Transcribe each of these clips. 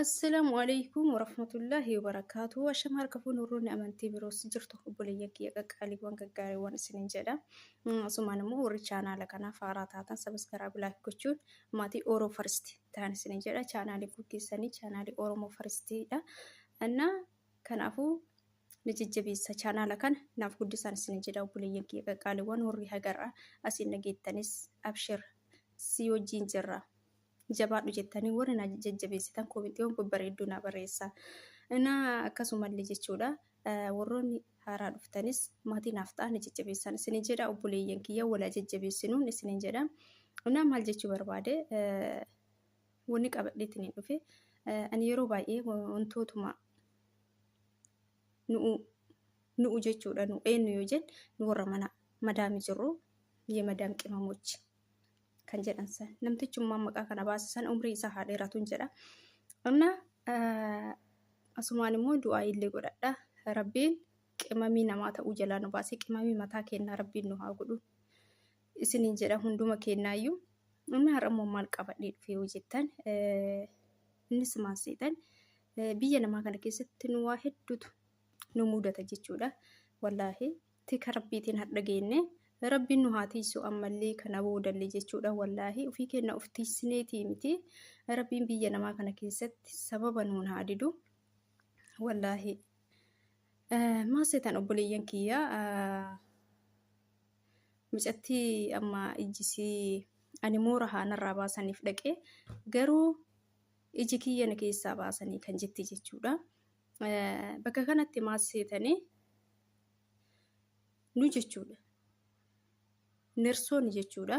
Assalaamu alaikum warahmatullaahi wabarakaatu. Ashama harka fuun warroonni amantii biroos jirtu obboleeyyan kiyya qaqqaaliiwwan gaggaariiwwan isiniin jedha. Asumaan immoo warri chaanaala kanaaf haaraa taatan sabiskaraab laayik gochuun maatii Oro Faristi ta'an isiniin jedha. Chaanaalii kun keessanii chaanaalii Oromoo Faristiidha. Annaa kanaafuu na jajjabeessa chaanaala kana naaf guddisaan isiniin jedha obboleeyyan kiyya qaqqaaliiwwan warri hagarraa asiin dhageettanis abshir si wajjin jirra. jabaadhu jettanii warri na jajjabeessitan koomentiiwwan babbareedduu naa barreessaa. Inaa akkasumallee jechuudha warroonni haaraa dhuftanis maatii naaf ta'a na jajjabeessaan isinin jedha obboleeyyan kiyya wala jajjabeessinuun isinin jedha. Inaa maal jechuu barbaade wanni qabadheetiin hin dhufe ani yeroo baay'ee wantootuma nu'u nu'u jechuudha nu eenyu yoo jennu nu warra mana madaami jirru የመዳም ቅመሞች kan jedhan san namtichummaa maqaa kana baase san umrii isaa haa dheeratuun jedha qonna asumaan immoo du'aa illee godhadha rabbiin qimamii namaa ta'uu jalaa nu baasee qimamii mataa kennaa rabbiin nu haa godhu isiniin jedha hunduma kennaayyuu inni har'a immoo maal qabadhee dhufee yoo jettan innis maal seetan biyya namaa kana keessatti nu waa hedduutu nu mudata jechuudha wallaahi Tika rabbiitiin hardha geenne rabbiin nu haa tiiysu ammallee kana boodallee jechuudha wallaahi ufii keenna uf tiiysineetii miti rabbiin biyya namaa kana keessatti sababa nuun haa didu wallaahi maa seetan obboleeyyan kiyya mucattii amma ijjisii ani moora haa narraa baasaniif dhaqee garuu iji kiyya na keessaa baasanii kan jetti jechuudha bakka kanatti maa seetanii nu jechuudha. Nersoonni jechuudha.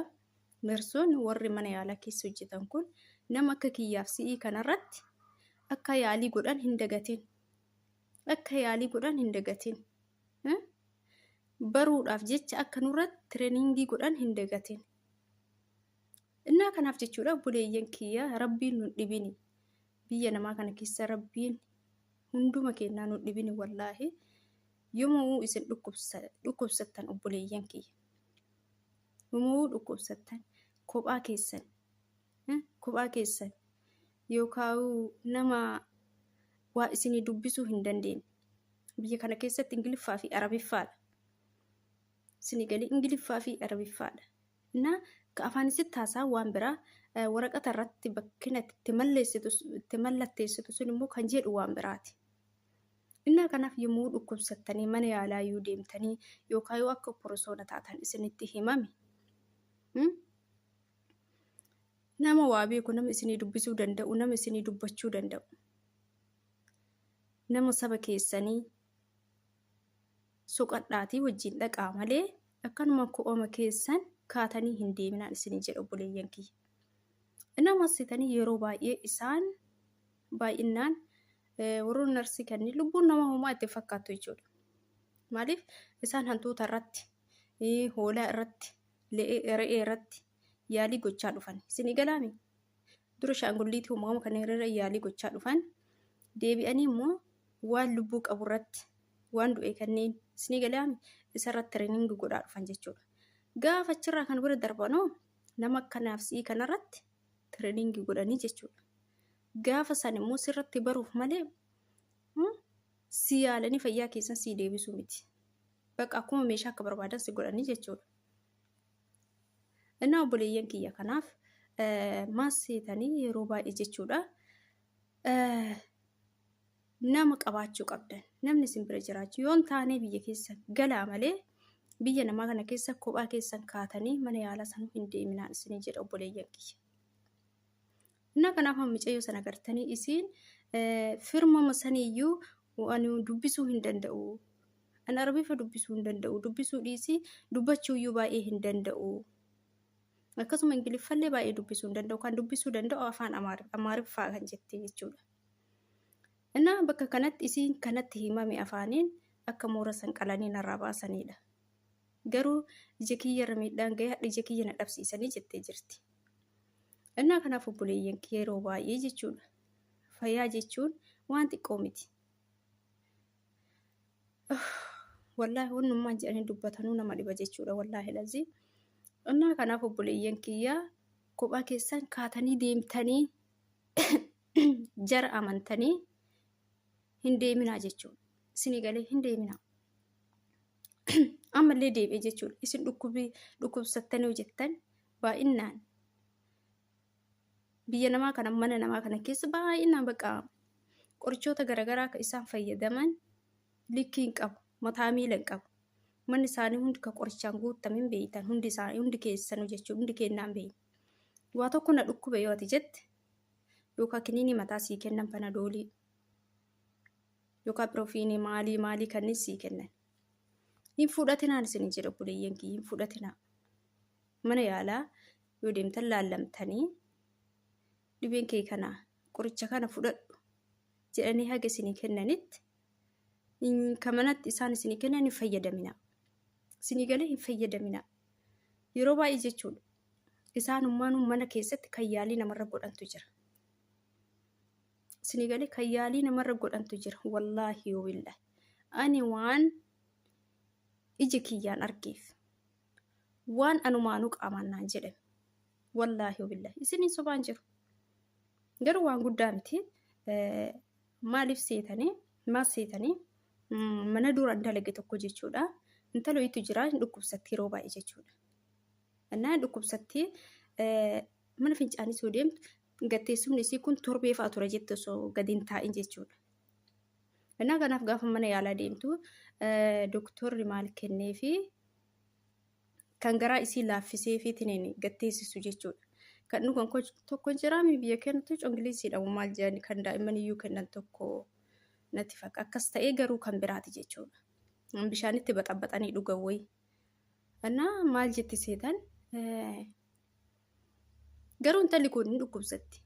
Nersoonni warri mana yaalaa keessa hojjetan kun nama akka kiyyaaf si'ii kanarratti akka yaalii godhan hin dagatin. Akka yaalii godhan hin dagatin. Baruudhaaf jecha akka nurratti tireeningii godhan hin dagatin. Innaa kanaaf jechuudha buleeyyan kiyya rabbiin nun dhibini. Biyya namaa kana keessa rabbiin hunduma keenyaa nu dhibini wallaahi yoomuu isin dhukkubsattan obboleeyyan kiyya yoomuu dhukkubsattan kophaa keessan kophaa keessan yookaan nama waa isinii dubbisuu hin dandeenye biyya kana keessatti ingiliffaa fi arabiffaadha Sinigalii Ingiliffaa fi Arabiffaa dha. Na ka afaan isitti haasaa waan biraa eh, waraqata irratti bakki natti itti malleessitu itti mallatteessitu sun immoo kan jedhu waan biraati. Innaa kanaaf yommuu dhukkubsattanii mana yaalaa yoo deemtanii yookaan yoo akka porosoona taatan isinitti himame hmm? nama waa beeku nama isinii dubbisuu danda'u nama isinii dubbachuu danda'u nama saba keessanii soqadhaatii wajjin dhaqaa malee akkanuma ko'oma keessan kaatanii hin deeminaan isinii jedha obboleeyyan kiyya. Nama sitanii yeroo baay'ee isaan baay'innaan warroonni narsii kanneen lubbuun nama homaa itti fakkaattu jechuudha. Maaliif isaan hantuuta irratti, hoolaa irratti, re'ee irratti yaalii gochaa dhufan. Isinii galaami? dura shaangulliitii uumama kana irra yaalii gochaa dhufan deebi'anii immoo waan lubbuu qabu irratti waan du'e kanneen isinii galaami isarratti tireeningi godhaa dhufan jechuudha. Gaafa achirraa kan bira darbanoo nama kanaaf si'ii kanarratti tireeningi godhanii jechuudha. Gaafa san immoo sirratti baruuf malee si yaalanii fayyaa keessan sii deebisuu miti. Bakka akkuma meeshaa akka barbaadan si godhanii jechuudha. Innaa obboleeyyan kiyya kanaaf maas seetanii yeroo baay'ee jechuudha nama qabaachuu qabdan namni isin bira jiraachuu yoon taanee biyya keessa galaa malee biyya namaa kana keessa kophaa keessan kaatanii mana yaalaa sanuu hin deeminaan isinii jedha obboleeyyan kiyya. Innaa kanaaf amma micayyoo sana gartanii isiin firmama saniyyuu ani dubbisuu hin danda'u. Ani arabifa dubbisuu hin danda'u. Dubbisuu dhiisii dubbachuuyyuu baay'ee hin danda'u. Akkasuma ingiliffallee baay'ee dubbisuu hin danda'u. Kan dubbisuu danda'u afaan amaariffaa kan jettee jechuudha. Innaa bakka kanatti isiin kanatti himame afaaniin akka moora san qalanii narraa baasanidha. Garuu ija kiyyarra miidhaan gahee hadha ija kiyya na dhabsiisanii jettee jirti. Innaa kanaaf obboleeyyan kee yeroo baay'ee jechuudha. Fayyaa jechuun waan xiqqoo miti. Wallaahi wannummaan jedhanii dubbatanuu nama dhiba jechuudha wallaahi lazii. Innaa kanaaf obboleeyyan kiyyaa kophaa keessan kaatanii deemtanii jara amantanii hin deeminaa jechuudha. Isinii galee hin deeminaa. ammallee deebi'e jechuudha. Isin dhukkubii dhukkubsattanii hojjettan baay'inaan biyya namaa kana mana namaa kana keessa baay'inaan bakka qorichoota garaagaraa akka isaan fayyadaman likkii hin qabu mataa miila hin qabu manni isaanii hundi ka qorichaan guutame hin beektan hundi isaa hundi keessan hojjechuu hundi kennaan beekna waa tokko na dhukkube yoo ati jette yookaan kiniinii mataa sii kennan panadoolii yookaan piroofiinii maalii maalii kanneen sii kennan. Hin fudhatinaan isin jedha obboleeyyan kiyya hin fudhatinaa. Mana yaalaa yoo deemtan laallamtanii dhibeen kee kana qoricha kana fudhadhu jedhanii haga isinii kennanitti kan manatti isaan isinii kennan hin fayyadaminaa. Isinii galee hin fayyadaminaa. Yeroo baay'ee jechuudha. Isaanummaan mana keessatti kan yaalii namarra godhantu jira. Isinii galee kan yaalii namarra godhantu jira. Wallaahi yoo billaahi. Ani waan iji kiyyaan argeef. Waan anumaanuu qaamaan naan jedhame. Wallaahi yoo billaahi. Isiniin sobaan jiru. Garuu waan guddaa miti. Eh, Maaliif seetanii? Maal seetanii? Mm, Mana dura dalage tokko jechuudha. Intalo itti jira hin dhukkubsatti yeroo baay'ee jechuudha. Innaa hin dhukkubsatti eh, mana fincaanii soo deemtu Gadteessumni isii kun torbee fa'a ture jette osoo gadi hin taa'in jechuudha. Innaa kanaaf gaafa mana yaalaa deemtu doktorri maal kennee fi kan garaa isii laaffisee fi tiniin gadteessisu jechuudha. Kan dhugan tokko jiraami biyya kennatu congiliisiidha maal jedhan kan daa'imman iyyuu kennan tokko natti fakka akkas ta'ee garuu kan biraati jechuudha. Bishaanitti baxabaxanii dhugan wayi. Innaa maal jetti seetan Garuu intalli kun hin dhukkubsatti.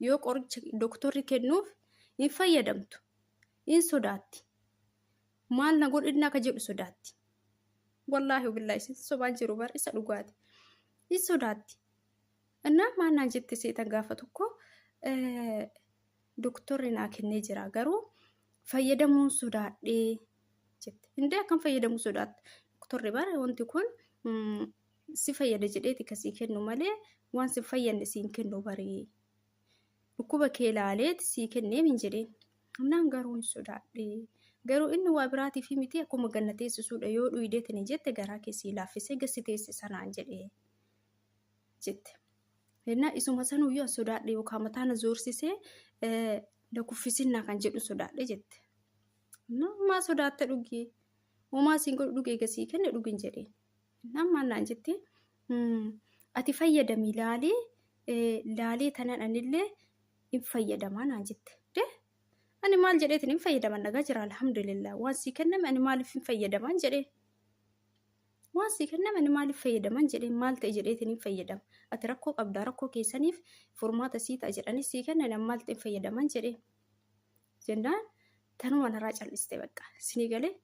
Yoo qoricha doktorri kennuuf hin fayyadamtu. Hin sodaatti. Maal na godhinna akka jedhu sodaatti. Wallaahi billaa isin sobaa jiru bar isa dhugaati. Hin sodaatti. Innaa maal naan jette seetan gaafa tokko doktorri naa kennee jira garuu fayyadamuun sodaadhee jette. Indee akkam fayyadamuu sodaatta? Doktorri bara wanti kun si fayyada jedheeti ka sii kennu malee waan si fayyanne siin kennu baree dhukkuba kee laaleeti sii kenneef hin jedheen naan garuu hin sodaadhe garuu inni waa biraatiif miti akkuma ganna teessisuudha yoo dhuydeetini jette garaa kee sii laaffisee gassi teessisa naan jedhe jette hennaa isuma sanuu yoo sodaadhe yookaan mataa na zoorsisee na kuffisinnaa kan jedhu sodaadhe jette maa sodaatta dhugii homaa siin godhu dhugee gasii kenne dhugin jedheen Innaan maal naan jette? Ati fayyadami laalee laalee tanan anillee hin fayyadamaa naan jette. Dee ani maal jedheetiin hin fayyadaman dhagaa jira alhamdulillah waan sii kenname ani maaliif hin fayyadaman jedhee. Waan sii kenname ani maaliif fayyadaman jedhee maal ta'e jedheetiin hin fayyadama. Ati rakkoo qabdaa rakkoo keessaniif furmaata sii ta'a jedhanii sii kennan ani maal ta'e hin fayyadaman jedhee. Jennaan tanuma narraa cal'iste bakka sinii galee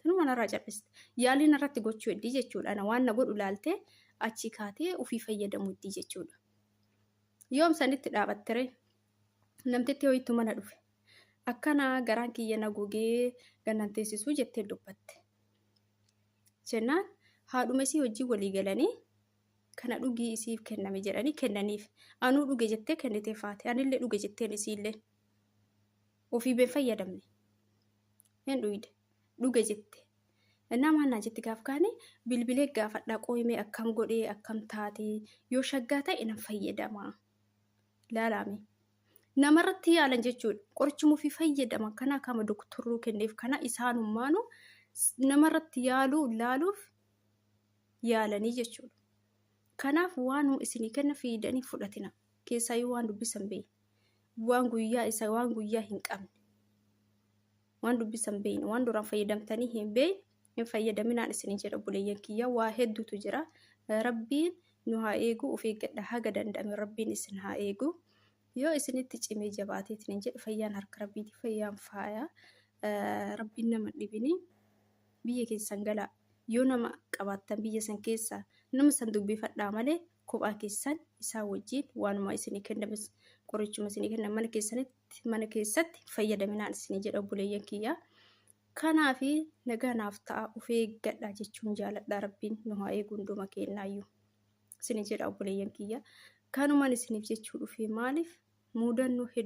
Tanuma narraa cal'iste. Yaalii narratti gochuu heddii jechuudha. Ana waan na godhu laaltee achii kaatee ofii fayyadamu heddii jechuudha. Yoom sanitti dhaabattere namtitti hoyittu mana dhufe. Akkana garaan kiyya na gogee gannan teessisuu jettee dubbatte. Jennaan haadhuma isii wajjin walii galanii kana dhugii isiif kenname jedhanii kennaniif. Anuu dhuge jettee kennitee faate. Anillee dhuge jetteen isiillee. Ofii been fayyadamne. Hin dhuyde. Dhuge jette. Innaa maal naa jetti gaaf kaane bilbilee gaafadhaa qooyimee akkam godhee akkam taatee yoo shaggaa ta'e nan fayyadama. Laalaame. Namarratti yaalan jechuudha. Qorichuma ofii fayyadaman kana akkama doktorruu kenneef kana isaanummaanu namarratti yaaluu laaluuf yaalanii jechuudha. Kanaaf waanuma isinii kenna fiidanii fudhatina. Keessaayyuu waan dubbisan beeyi. waan guyyaa isa waan guyyaa hin qabne waan dubbisan beeyne waan duraan fayyadamtanii hin beeyne hin fayyadaminaan isin jedha buleeyyan kiyya waa hedduutu jira rabbiin nu haa eeguu of eeggadha haga danda'ame rabbiin isin haa eeguu yoo isinitti cimee jabaateetiin hin jedhe fayyaan harka rabbiiti fayyaan faaya rabbiin nama dhibinii biyya keessan galaa yoo nama qabaattan biyya san keessaa nama san dubbifadhaa malee kophaa keessan isaa wajjin waanuma isinii kennames qorichuma isinii kenna mana keessanitti mana keessatti fayyadaminaan isinii jedha obboleeyyan kiyya. Kanaaf nagaa naaf ta'a of eeggadha jechuun jaaladha rabbiin nu haa eegu hunduma keenyaayyuu isinii jedha obboleeyyan kiyya. Kanumaan isiniif jechuu dhufee maaliif muudannoo hedduu